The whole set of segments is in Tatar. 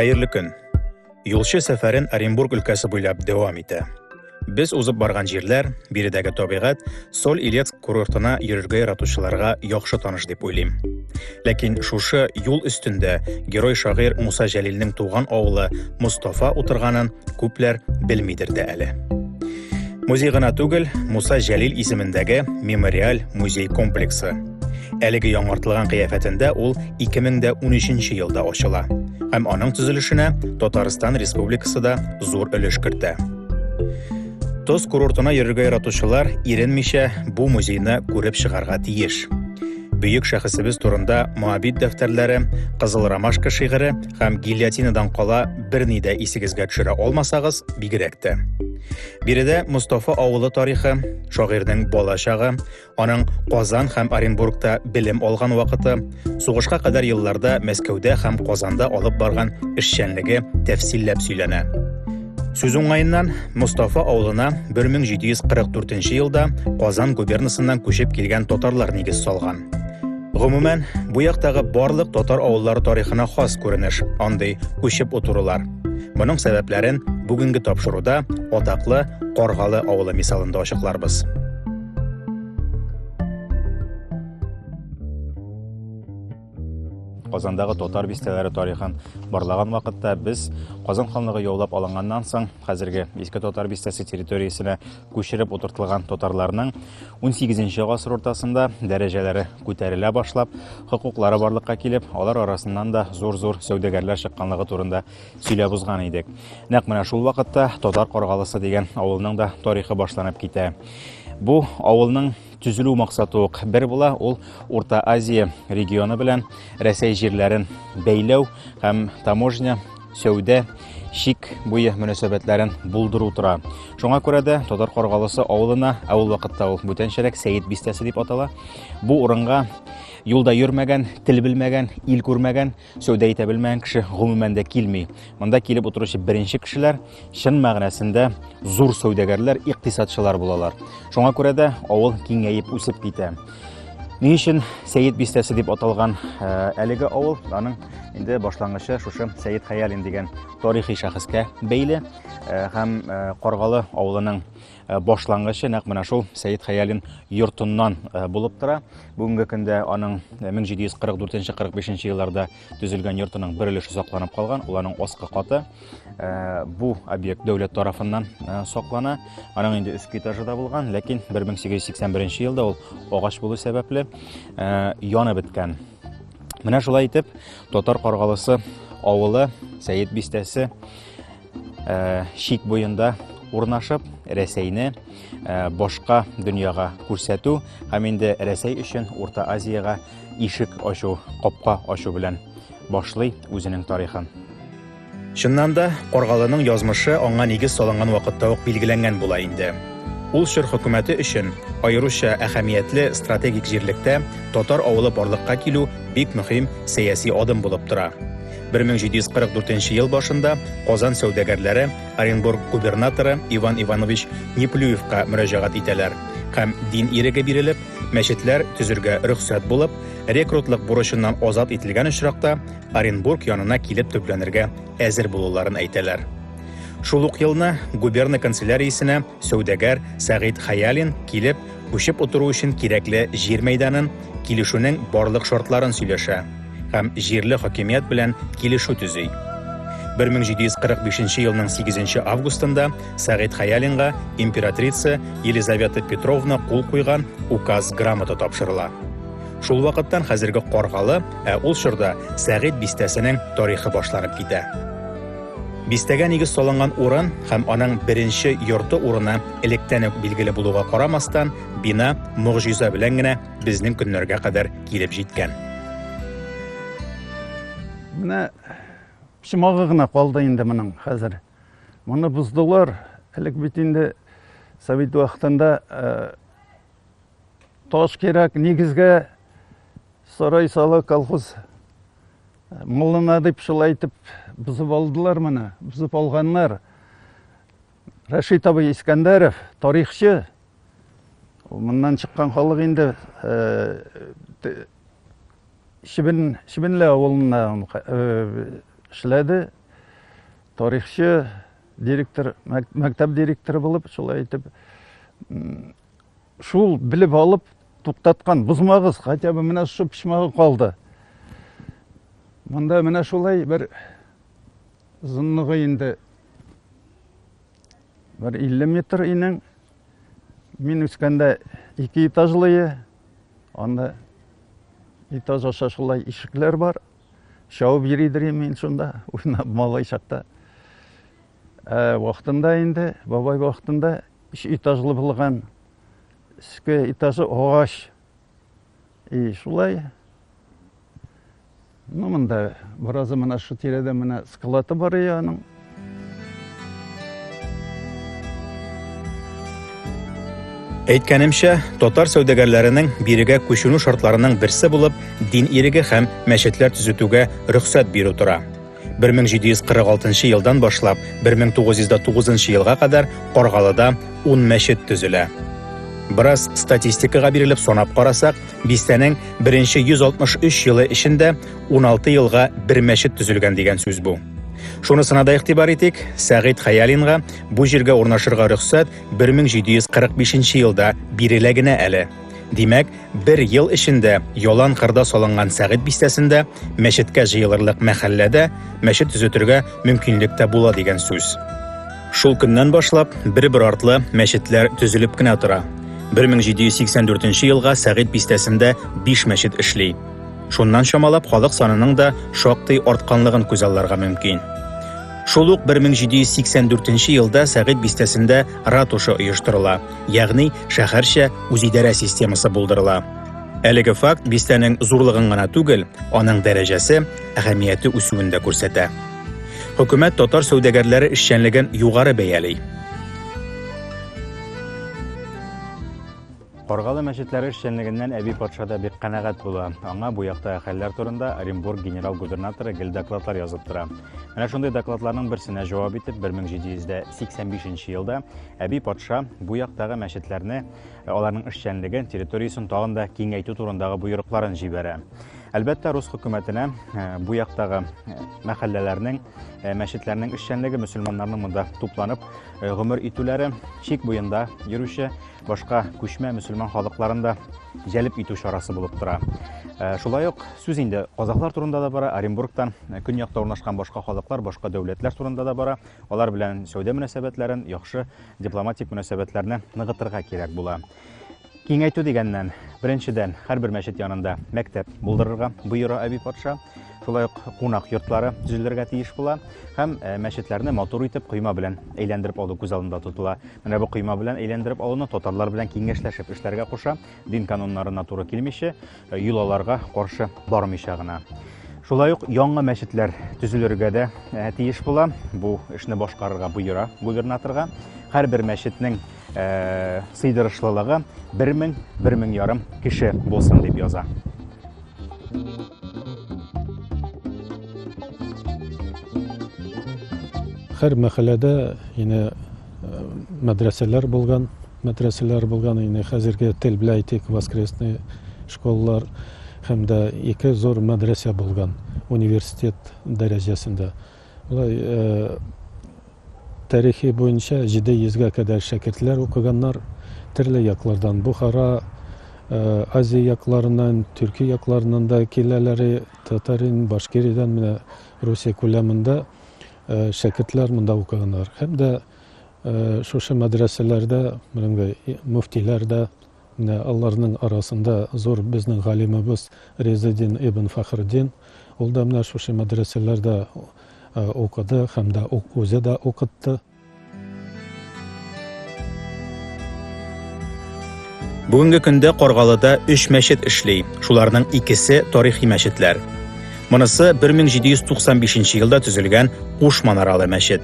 Хәерле көн. Юлчы сәфәрен Оренбург өлкәсе буйлап дәвам итә. Без узып барган җирләр, биредәге табигать, Соль Илецк курортына йөрергә яратучыларга яхшы таныш дип уйлыйм. Ләкин шушы юл өстендә герой шагыйрь Муса Җәлилнең туган авылы Мустафа утырганын күпләр белмидер дә әле. Музей гына түгел, Муса Җәлил исемендәге мемориаль музей комплексы. Әлеге яңартылган кыяфәтендә ул 2013 елда ачыла. Һәм аның төзелешенә Татарстан Республикасы да зур өлеш кертә. Тоз курортына йөрергә яратучылар иренмичә бу музейны күреп чыгарга тиеш. Бөек шәхесебез турында Моабит дәфтәрләре, Кызыл ромашка шигыре һәм гильотинадан кала берни дә исегезгә төшерә алмасагыз, бигрәк тә. Биредә Мустафа авылы тарихы, шагыйрьнең бала чагы, аның Казан һәм Оренбургта белем алган вакыты, сугышка кадәр елларда Мәскәүдә һәм Казанда алып барган эшчәнлеге тәфсилләп сөйләнә. Сүз уңаеннан, Мустафа авылына 1744 елда Казан губернасыннан күчеп килгән татарлар нигез салган. Гомумән, бу яктагы барлык татар авыллары тарихына хас күренеш, андый күчеп утырулар. Моның сәбәпләрен бүгенге тапшыруда атаклы Каргалы авылы мисалында ачыкларбыз. Казандагы татар бистәләре тарихын барлаган вакытта без Казан ханлыгы яулап алынганнан соң хәзерге Иске татар бистәсе территориясенә күчереп утыртылган татарларның 18 гасыр уртасында дәрәҗәләре күтәрелә башлап, хокуклары барлыкка килеп, алар арасыннан да зур-зур сәүдәгәрләр чыкканлыгы турында сөйләп узган идек. Нәкъ менә шул вакытта Татар Каргалысы дигән авылның да тарихы башланып китә. Бу авылның Төзелү максаты ук бер була, ул Урта Азия регионы белән Рәсәй җирләрен бәйләү һәм таможня, сәүдә, шик буе мөнәсәбәтләрен булдыру тора. Шуңа күрә дә Татар Каргалысы авылына, ә ул вакытта ул бүтәнчәрәк Сәет бистәсе дип атала, бу урынга юлда йөрмәгән, тел белмәгән, ил күрмәгән Сәүдә итә белмәгән кеше гомумән дә килми. Монда килеп утыручы беренче кешеләр чын мәгънәсендә зур сәүдәгәрләр, икътисадчылар булалар. Шуңа күрә дә авыл киңәеп үсеп китә. Ни өчен Сәет бистәсе дип аталган э, әлеге авыл? Аның инде башлангычы шушы Сәет Хәялин дигән тарихи шәхескә бәйле э, һәм э, Каргалы авылының Э, башлангычы нәкъ менә шул Сәет Хәялин йортыннан э, булып тора. Бүгенге көндә аның 1744-45 э, елларда төзелгән йортының бер өлеше сакланып калган, ул аның аскы каты. Бу объект дәүләт тарафыннан саклана. Аның инде өске этажы да булган, ләкин 1881 елда ул агач булу сәбәпле яны беткән. Менә шулай итеп татар каргалысы авылы Сәет бистәсе чик буенда урнашып, Рәсәйне башка дөньяга күрсәтү һәм инде Рәсәй өчен Урта Азиягә ишек ачу, капка ачу белән башлый үзенең тарихын. Чыннан да, Каргалының язмышы аңа нигез салынган вакытта ук билгеләнгән була инде. Ул чор хөкүмәте өчен аеруча әһәмиятле стратегик җирлектә татар авылы барлыкка килү бик мөһим сәяси адым булып тора. 1744 ел башында Казан сәүдәгәрләре Оренбург губернаторы Иван Иванович Неплюевка мөрәҗәгать итәләр һәм дин иреге бирелеп, мәчетләр төзергә рөхсәт булып, рекрутлык бурычыннан азат ителгән очракта Оренбург янына килеп төпләнергә әзер булуларын әйтәләр. Шул ук елны губерна канцеляриясенә Сәүдәгәр Сәгыйть Хәялин килеп, күчеп утыру өчен кирәкле җир мәйданын, килешүнең барлык шартларын сөйләшә һәм җирле хакимият белән килешү төзи. 1745 елның 8 августында Сәгыйть Хәялинга императрица Елизавета Петровна кул куйган указ грамота тапшырыла. Шул вакыттан хәзерге Каргалы, ә ул чорда Сәгыйть бистәсенең тарихы башланып китә. Бистәгә нигез салынган урын һәм аның беренче йорты урыны электән үк билгеле булуга карамастан, бина могҗиза белән генә безнең көннәргә кадәр килеп җиткән. Менә почмагы гына калды инде моның хәзер. Моны боздылар. Элек бит инде совет вакытында э, таш кирәк, нигезгә сарай сала колхоз Муллана дип шулай итеп бозып алдылар моны, бозып алганнар. Рәшит абый Искәндәров, тарихчы, моннан чыккан халык инде Шибен, Шибенле авылында эшләде. Тарихчы, директор, мәктәп директоры булып, шулай итеп Шул белеп алып туктаткан бозмагыз, хотя бы менә шушы почмагы калды. Монда менә шулай бер озынлыгы инде бер 50 метр инең. Мин үскәндә ике этажлые, анда этаж аша шулай ишекләр бар. Шауып йөридер мин шунда, уйнап малай чакта. Ә вакытында инде, бабай вакытында Өч этажлы булган өске этажы агач. И шулай. Ну, монда беразы менә шу тирәдә менә скалаты бар ие аның. Әйткәнемчә, татар сәүдәгәрләренең бирегә күченү шартларының берсе булып дин иреге һәм мәчетләр төзетүгә рөхсәт бирү тора. 1746 елдан башлап 1909 елга кадәр Каргалыда 10 мәчет төзелә. Бераз статистикага бирелеп санап карасак, бистәнең беренче 163 елы эчендә 16 елга бер мәчет төзелгән дигән сүз бу. Шунысына да игътибар итик, Сәгыйть Хаялинга бу җиргә урнашырга рөхсәт 1745 елда бирелә генә әле. Димәк, бер ел эчендә ялан кырда салынган Сәгыйть бистәсендә мәчеткә җыелырлык мәхәлләдә мәчет төзетергә мөмкинлек тә була дигән сүз. Шул көннән башлап бер-бер артлы мәчетләр төзелеп кенә тора. 1784 елга Сәгыйть бистәсендә 5 мәчет эшли. Шуннан чамалап халык санының да шактый артканлыгын күзалларга мөмкин. Шул ук 1784 елда Сәгыйть бистәсендә ратуша оештырыла. ягъни шәһәрчә үзидарә системасы булдырыла. Әлеге факт бистәнең зурлыгын гына түгел, аның дәрәҗәсе, әһәмияте үсүен дә күрсәтә. Хөкүмәт татар сәүдәгәрләре эшчәнлеген югары бәяли. Каргалы мәчетләре эшчәнлегеннән Әби патша да бик канәгать була. Аңа бу яктагы хәлләр турында Оренбург генерал-губернаторы гел докладлар язып тора. Менә шундый докладларның берсенә җавап итеп, 1785 елда әби патша бу яктагы мәчетләрне, э, аларның эшчәнлеген, территориясен тагын да киңәйтү турындагы боерыкларын җибәрә. Әлбәттә, рус хөкүмәтенә э, бу яктагы э, мәхәлләләрнең, мәчетләрнең эшчәнлеге, мөселманнарның монда тупланып гомер итүләре, чик буенда йөрүче башка күчмә мөселман халыкларын да җәлеп итү чарасы булып тора. Э, шулай ук сүз инде казахлар турында да бара, Оренбургтан э, көньякта урнашкан башка халыклар, башка дәүләтләр турында да бара. Алар белән сәүдә мөнәсәбәтләрен, яхшы дипломатик мөнәсәбәтләрне ныгытырга кирәк була. Киңәйтү дигәннән, беренчедән, һәрбер мәчет янында мәктәп булдырырга боера Әби патша. Шулай ук кунак йортлары төзелергә тиеш була һәм э, мәчетләрне матур итеп койма белән әйләндереп алу күз алдында тотыла. Менә бу койма белән әйләндереп алуны татарлар белән киңәшләшеп эшләргә куша, дин кануннарына туры килмичә, э, йолаларга каршы бармыйча гына. Шулай ук яңа мәчетләр төзелергә дә э, тиеш була. Бу эшне башкарырга боера губернаторга. Һәрбер мәчетнең э, сыйдырышлылыгы 1000 1000 ярым кеше булсын дип яза. Хәр мәхәлләдә ине э, мәдрәсәләр булган, мәдрәсәләр булган ине хәзерге тел белән әйтик, воскресный школалар һәм дә ике зур мәдрәсә булган университет дәрәҗәсендә. Болай тарихи буенча 700 гә кадәр шәкертләр укыганнар, төрле яклардан, Бухара, Азия якларыннан, Төрки якларыннан да киләләре, Татарин, Башкириядән менә Русия күләмендә шәкертләр монда укыганнар. Һәм дә шушы мәдрәсәләрдә, менә мөфтиләр дә, Менә аларның арасында зур безнең галимыбыз Ризыйдин ибн Фәхреддин, ул да менә шушы мәдрәсәләрдә укыды һәм дә үзе дә укытты. Бүгенге көндә Каргалыда өч мәчет эшли, шуларның икесе тарихи мәчетләр. Монысы 1795 елда төзелгән Куш манаралы мәчет.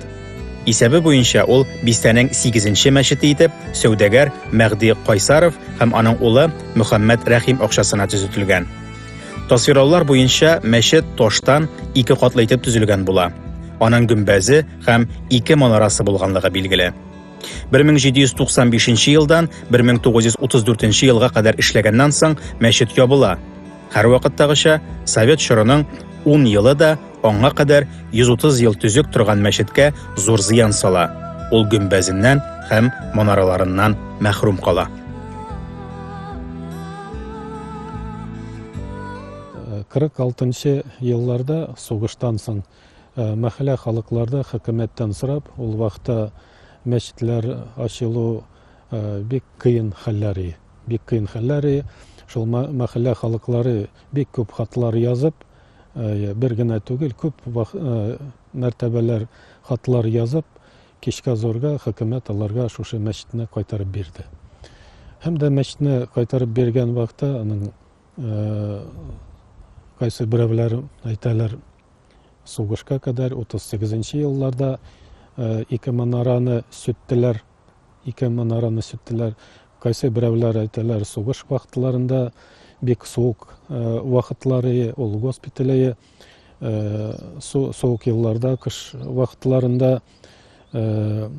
Исәбе буенча ул бистәнең сигезенче мәчете итеп сәүдәгәр Мәгъди Кайсаров һәм аның улы Мөхәммәд Рәхим акчасына төзетелгән. Тасвирлаулар буенча мәчет таштан ике катлы итеп төзелгән була. Аның гөмбәзе һәм ике манарасы булганлыгы билгеле. 1795 елдан 1934 елга кадәр эшләгәннән соң мәчет ябыла. Һәрвакыттагыча, совет чорының 10 елы да аңа кадәр 130 ел төзек торган мәчеткә зур зыян сала. Ул гөмбәзеннән һәм манараларыннан мәхрүм кала. Кырык алтынчы елларда сугыштан соң э, мәхәллә халыкларда хөкүмәттән сорап, ул вакытта мәчетләр ачылу э, бик кыен хәлләр иде. Бик кыен хәлләр и, шул мәхәллә халыклары бик күп хатлар язып, бер генә түгел, күп мәртәбәләр хатлар язып, кичкә зурга хөкүмәт аларга шушы мәчетне кайтарып бирде. Һәм дә мәчетне кайтарып биргән вакытта аның кайсы берәүләр әйтәләр, сугышка кадәр 38 елларда ике манараны сүттеләр. Ике манараны сүттеләр. Кайсы берәүләр әйтәләр, сугыш вакытларында бик суык э, вакытлары ул госпитале э, суык елларда, кыш вакытларында э,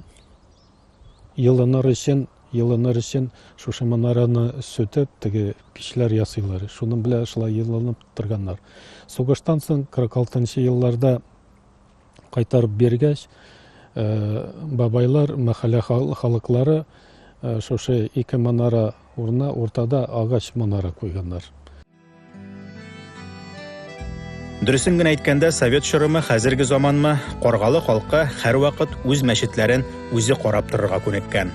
елыныр өчен елыныр өчен шушы манараны сүтеп теге пичләр ясыйлар шуның белән шулай елынып торганнар сугыштан соң кырык алтынчы елларда кайтарып биргәч, бабайлар, мәхәллә халыклары шушы ике манара урынына уртада агач манара куйганнар. Дөресен генә әйткәндә, совет чорымы, хәзерге заманмы, Каргалы халкы һәрвакыт үз мәчетләрен үзе карап торырга күнеккән.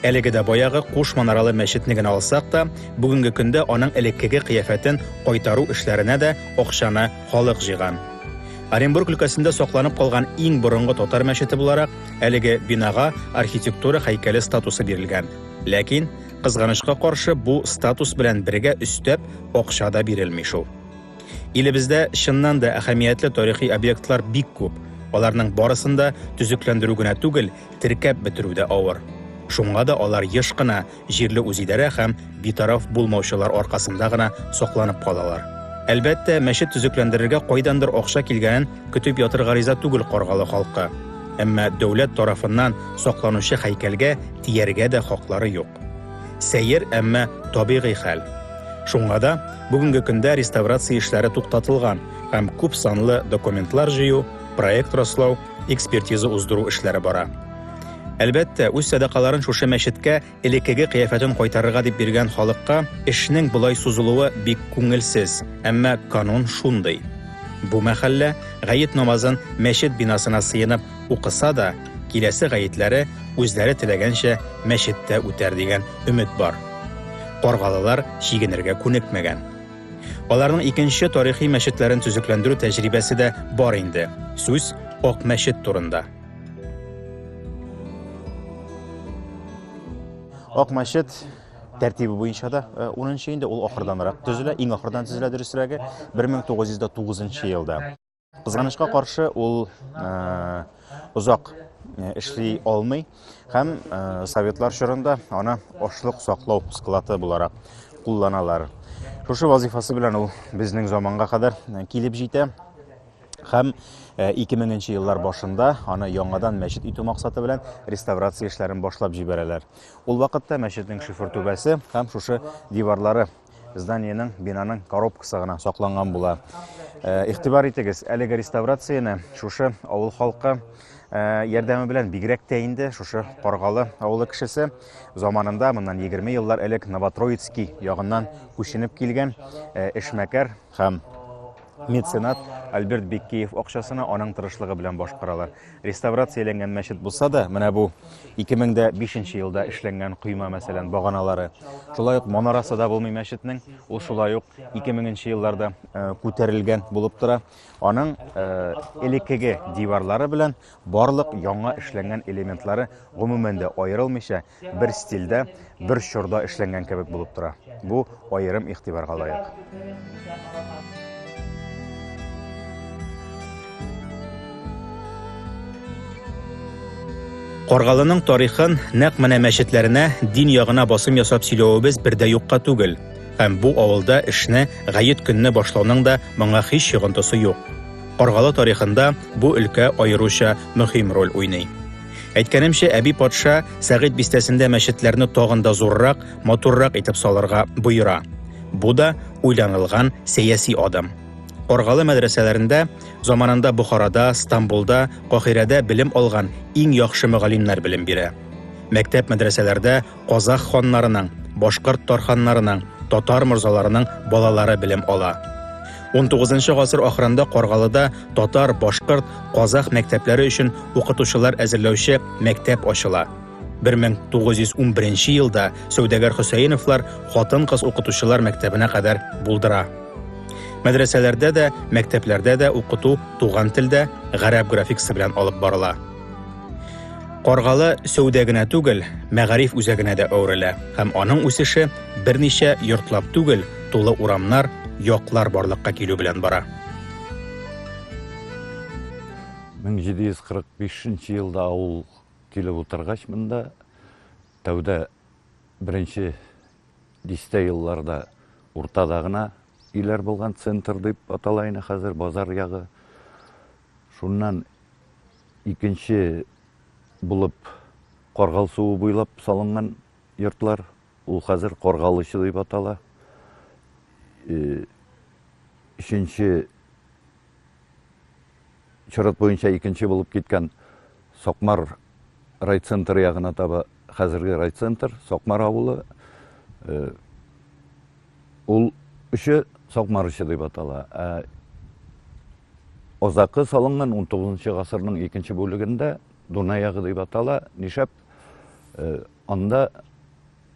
Әлеге дә баягы куш манаралы мәчетне генә алсак та, бүгенге көндә аның элеккеге кыяфәтен кайтару эшләренә дә акчаны халык җыйган. Оренбург өлкәсендә сакланып калган иң борынгы татар мәчете буларак, әлеге бинага архитектура һәйкәле статусы бирелгән. Ләкин, кызганычка каршы, бу статус белән бергә өстәп акча да бирелми шул. Илебездә, чыннан да, әһәмиятле тарихи объектлар бик күп. Аларның барысын да төзекләндерү генә түгел, теркәп бетерү дә авыр. Шуңа да алар еш кына җирле үзидарә һәм битараф булмаучылар аркасында гына сакланып калалар. Әлбәттә, мәчет төзекләндерергә кайдандыр акча килгәнен көтеп ятырга риза түгел Каргалы халкы. Әмма дәүләт тарафыннан сакланучы һәйкәлгә тияргә дә хаклары юк. Сәер, әмма табигый хәл. Шуңа да бүгенге көндә реставрация эшләре туктатылган һәм күп санлы документлар җыю, проект раслау, Экспертиза уздыру эшләре бара. Әлбәттә, үз сәдакаларын шушы мәчеткә элеккеге кыяфәтен кайтарырга дип биргән халыкка эшнең болай сузылуы бик күңелсез, әмма канун шундый. Бу мәхәллә гает намазын мәчет бинасына сыенып укыса да, киләсе гаетләре үзләре теләгәнчә мәчеттә үтәр дигән өмет бар. Каргалылар чигенергә күнекмәгән. Аларның икенче тарихи мәчетләрен төзекләндерү тәҗрибәсе дә бар инде. Сүз Ак мәчет турында. Ак мәчет тәртибе буенча да 10 инде ул ахырданрак төзелә, иң ахырдан төзелә дөресрәге 1909 елда. Кызганычка каршы ул озак эшли алмый һәм советлар чорында аны ашлык саклау склады буларак кулланалар. Шушы вазифасы белән ул безнең заманга кадәр килеп җитә һәм 2000 нче еллар башында аны яңадан мәчет итү максаты белән реставрация эшләрен башлап җибәрәләр. Ул вакытта мәчетнең шифр түбәсе һәм шушы диварлары зданиенең, бинаның коробкасы гына сакланган була. Э, игътибар итегез, әлеге реставрацияне шушы авыл халкы э, ярдәме белән бигрәк тә инде шушы Каргалы авылы кешесе заманында моннан 20 еллар элек Новотроицкий ягыннан күченеп килгән э, эшмәкәр һәм Меценат Альберт Беккеев акчасына аның тырышлыгы белән башкаралар. Реставрацияләнгән мәчет булса да, менә бу 2005 елда эшләнгән койма, мәсәлән, баганалары. Шулай ук манарасы да булмый мәчетнең. Ул шулай ук 2000 елларда э, күтәрелгән булып тора. Аның э, элеккеге диварлары белән барлык яңа эшләнгән элементлары гомумән дә аерылмыйча, бер стильдә, бер чорда эшләнгән кебек булып тора. Бу аерым игътибарга лаек. Каргалының тарихын нәкъ менә мәчетләренә дин ягына басым ясап сөйләвебез бер дә юкка түгел. Һәм бу авылда эшне гает көнне башлауның да моңа һич йогынтысы юк. Каргалы тарихында бу өлкә аеруча мөһим роль уйный. Әйткәнемчә, әби патша Сәгыйть бистәсендә мәчетләрне тагын да зуррак, матуррак итеп салырга боера. Бу да уйланылган сәяси адым. Оргалы мәдрәсәләрендә заманында Бухарада, Стамбулда, Кахирәдә белем алган иң яхшы мөгаллимнәр белем бирә. Мәктәп-мәдрәсәләрдә Казах ханнарының, башкорт тарханнарының, татар морзаларының балалары белем ала. Унтугызынчы гасыр ахырында Каргалыда татар, башкорт, казах мәктәпләре өчен укытучылар әзерләүче мәктәп ачыла. 1911 елда сәүдәгәр Хөсәеновлар хатын-кыз укытучылар мәктәбенә кадәр булдыра. Мәдрәсәләрдә дә, мәктәпләрдә дә укыту туган телдә, гарәп графикасы белән алып барыла. Каргалы сәүдә генә түгел, мәгариф үзәгенә дә әверелә һәм аның үсеше берничә йортлап түгел, тулы урамнар, яклар барлыкка килү белән бара. 1745 елда авыл килеп утыргач монда тәүдә беренче дистә елларда уртада гына өйләр булган центр дип атала инде хәзер базар ягы Шуннан икенче булып Каргал суы буйлап салынган йортлар. Ул хәзер Каргалычы дип атала. Э, өченче чират буенча икенче булып киткән Сакмар райцентры ягына таба хәзерге райцентр, Сакмар авылы. Э, Ул өче Сакмарычы дип атала. Ә Озакы салынган 19 гасырның икенче бүлегендә Дунаягы дип атала. Нишәп э, анда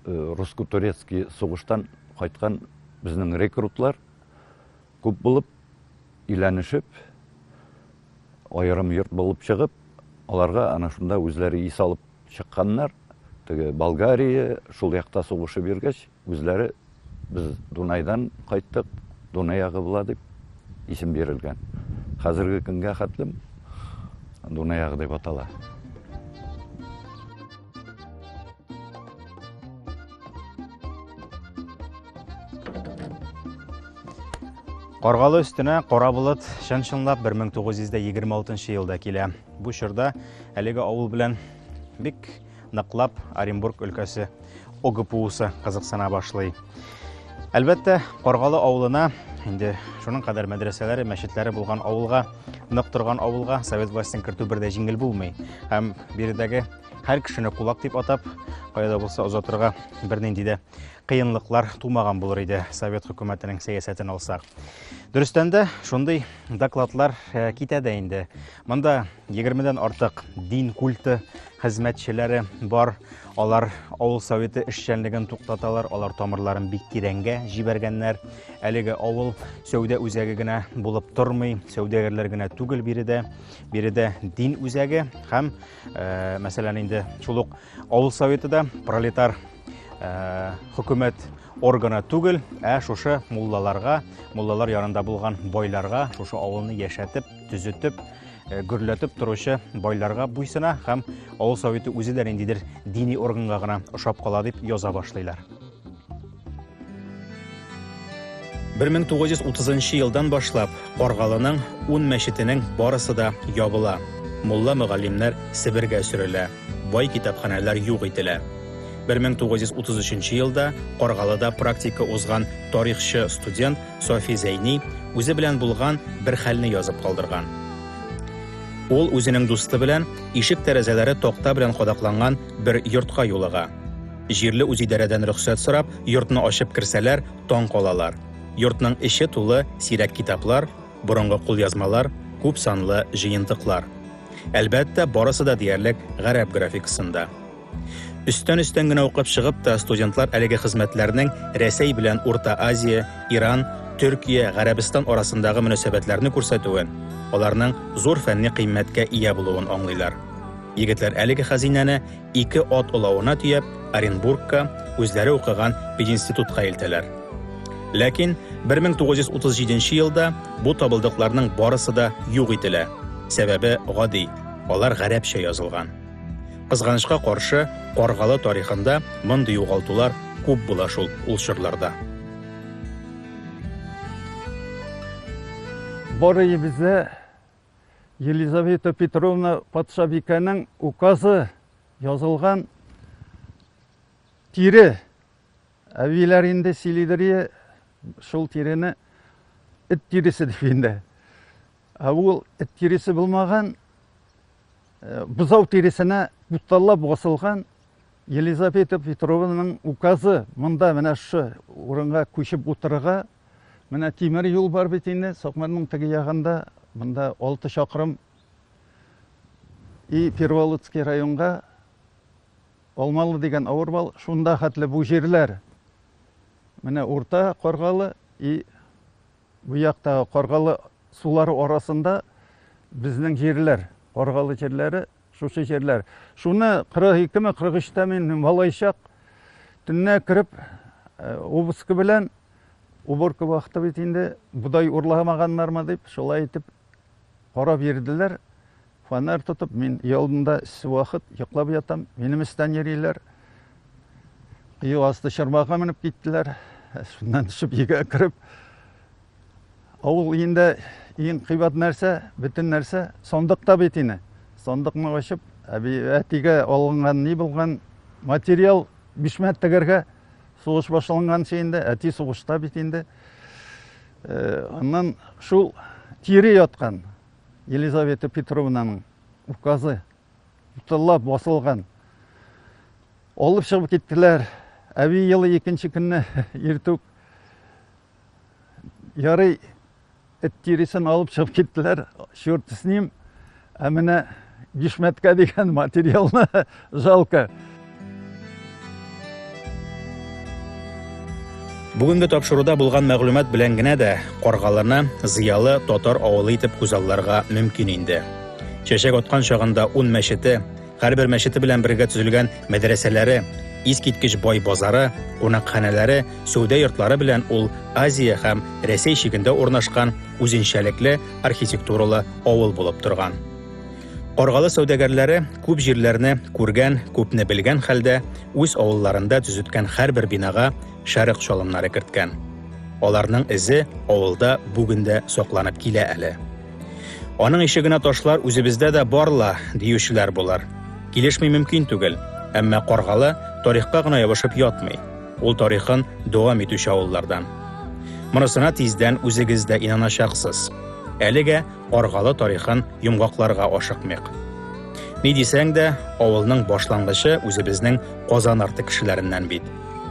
э, русско-турецкий сугыштан кайткан безнең рекрутлар күп булып иләнешеп аерым йорт булып чыгып, аларга ана шунда үзләре ис алып чыкканнар. Теге Болгария, шул якта сугышы биргәч, Үзләре без Дунайдан кайттык, Дунай ягы була дип исем бирелгән. Хәзерге көнгә хәтлем Дунай ягы дип атала. Каргалы өстенә кара болыт чын-чынлап 1926 елда килә. Бу чорда әлеге авыл белән бик ныклап Оренбург өлкәсе ОГПУсы кызыксына башлый. Әлбәттә, Каргалы авылына, инде шуның кадәр мәдрәсәләре, мәчетләре булган авылга, нык торган авылга совет властен кертү бер дә җиңел булмый. Һәм биредәге һәр кешене кулак дип атап, каяда булса озатырга бернинди дә кыенлыклар тумаган булыр иде совет хөкүмәтенең сәясәтен алсак. Дөрестән дә шундый докладлар э, китә дә инде. Монда егермедән артык дин культы хезмәтчеләре бар. Алар авыл советы эшчәнлеген туктаталар, алар тамырларын бик тирәнгә җибәргәннәр. Әлеге авыл сәүдә үзәге генә булып тормый, сәүдәгәрләр генә түгел биредә. Биредә дин үзәге һәм, э, мәсәлән, инде шул ук авыл советы да пролетар э, хөкүмәт органа түгел, ә шушы муллаларга, муллалар янында булган байларга, шушы авылны яшәтеп, төзетеп, э, гөрләтеп торучы байларга буйсына һәм авыл советы үзе дә ниндидер дини органга гына ошап кала дип яза башлыйлар. 1930 елдан башлап Каргалының ун мәчетенең барысы да ябыла. Мулла мөгаллимнәр Себергә сөрелә, бай китапханәләр юк ителә. 1933 елда Каргалыда практика узган тарихчы студент Софи Зәйни үзе белән булган бер хәлне язып калдырган. Ул үзенең дусты белән ишек тәрәзәләре токта белән кадакланган бер йортка юлыга. Җирле үзидарәдән рөхсәт сорап, йортны ачып керсәләр, таң калалар. Йортның эче тулы сирәк китаплар, борынгы кулъязмалар, күп санлы җыентыклар. Әлбәттә, барысы да диярлек гарәп графикасында. Өстән-өстән генә укып чыгып та, студентлар әлеге хезмәтләрнең Рәсәй белән Урта Азия, Иран, Төркия, Гарәбстан арасындагы мөнәсәбәтләрне күрсәтүен, аларның зур фәнни кыйммәткә ия булуын аңлыйлар. Егетләр әлеге хәзинәне ике ат олавына төяп, Оренбургка, үзләре укыган пединститутка илтәләр. Ләкин 1937 елда бу табылдыкларның барысы да юк ителә. Сәбәбе гади, алар гарәпчә язылган. Кызганычка каршы, Каргалы тарихында мондый югалтулар күп була шул ул чорларда. Барыйбызда Елизавета Петровна патшабикәнең указы язылган тире. Әбиләр инде сөйлидер шул тирене эт тиресе дип инде. Ә ул эт тиресе булмаган, Э, бозау тиресенә буталлап басылган Елизавета Петрованың указы монда менә шы урынга күчеп утырырга менә тимер юл бар бит инде Сокмарның теге ягында монда 6 чакрым и Перволодский районга Алмалы дигән авыр бал шунда хәтле бу җирләр менә урта Каргалы и Бу яктагы Каргалы сулары арасында безнең җирләр, Каргалы җирләре, шушы җирләр. Шуны 42 ме, 43 тә мин малайчак төннә кереп э, обыскы белән уборка вакыты бит инде, бодай урламаганнармы дип, шулай итеп Карап йөрделәр, фонарь тотып, мин өй алдында вакыт йоклап ятам, минем өстән йөриләр. Өй асты чарбага менеп киттеләр. Шуннан төшеп өйгә кереп, авыл өендә иң кыйбат нәрсә, бөтен нәрсә сандыкта бит ине. Сандыкны ачып, әби әтигә алынган ни булган материал бишмәт тегәргә сугыш башланганчы инде, әти сугышта бит инде. Аннан шул тире яткан Елизавета Петровнаның указы тыллап басылган. Алып чыгып киттеләр. Әби елы икенче көнне иртүк ярый эт тиресен алып чыгып киттеләр. Черт с ним. Ә менә бишмәткә дигән материалны жалко. Бүгенге тапшыруда булган мәгълүмат белән генә дә Каргалыны зыялы татар авылы итеп күзалларга мөмкин инде. Чәчәк аткан чагында ун мәчете, Һәрбер мәчете белән бергә төзелгән мәдрәсәләре, искиткеч бай базары, кунакханәләре, сәүдә йортлары белән ул Азия һәм Рәсәй чигендә урнашкан үзенчәлекле архитектуралы авыл булып торган. Каргалы сәүдәгәрләре күп җирләрне күргән, күпне белгән хәлдә үз авылларында төзеткән һәрбер бинага шәрык чалымнары керткән. Аларның эзе авылда бүген дә сакланып килә әле. Аның ише генә ташлар үзебездә дә барла, диючеләр булар. Килешми мөмкин түгел. Әмма Каргалы тарихка гына ябышып ятмый. Ул тарихын дәвам итүче авыллардан. Монысына тиздән үзегез дә инаначаксыз. Әлегә Каргалы тарихын йомгакларга ашыкмыйк. Ни дисәң дә, авылның башлангычы үзебезнең Казан арты кешеләреннән бит.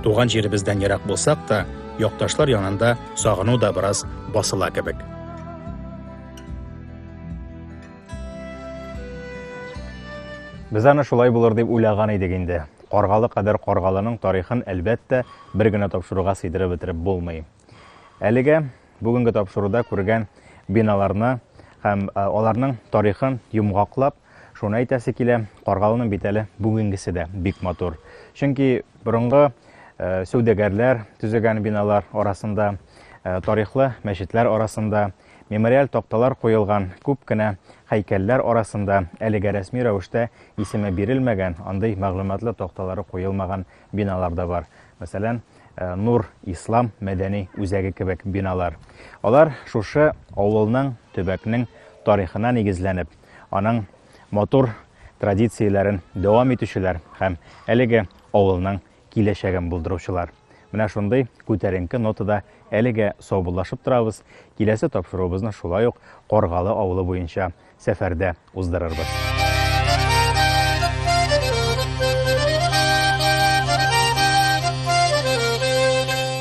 Туган җиребездән ерак булсак та, якташлар янында сагыну да бераз басыла кебек. Без аны шулай булыр дип уйлаган идек инде. Каргалы кадәр Каргалының тарихын, әлбәттә, бер генә тапшыруга сыйдырып бетереп булмый. Әлегә бүгенге тапшыруда күргән биналарны һәм аларның тарихын йомгаклап, Шуны әйтәсе килә, Каргалының бит әле бүгенгесе дә бик матур. Чөнки борынгы э, сәүдәгәрләр төзегән биналар арасында, э, тарихлы мәчетләр арасында, мемориаль такталар куелган күп кенә һәйкәлләр арасында әлегә рәсми рәвештә исеме бирелмәгән, андый мәгълүматлы такталары куелмаган биналар да бар. Мәсәлән, э, Нур Ислам мәдәни үзәге кебек биналар. Алар шушы авылның, төбәкнең тарихына нигезләнеп, аның матур традицияләрен дәвам итүчеләр һәм әлеге авылның киләчәген булдыручылар. Менә шундый күтәренке нотада әлегә саубуллашып торабыз. Киләсе тапшыруыбызны шулай ук Коргалы авылы буенча сәфәрдә уздырырбыз.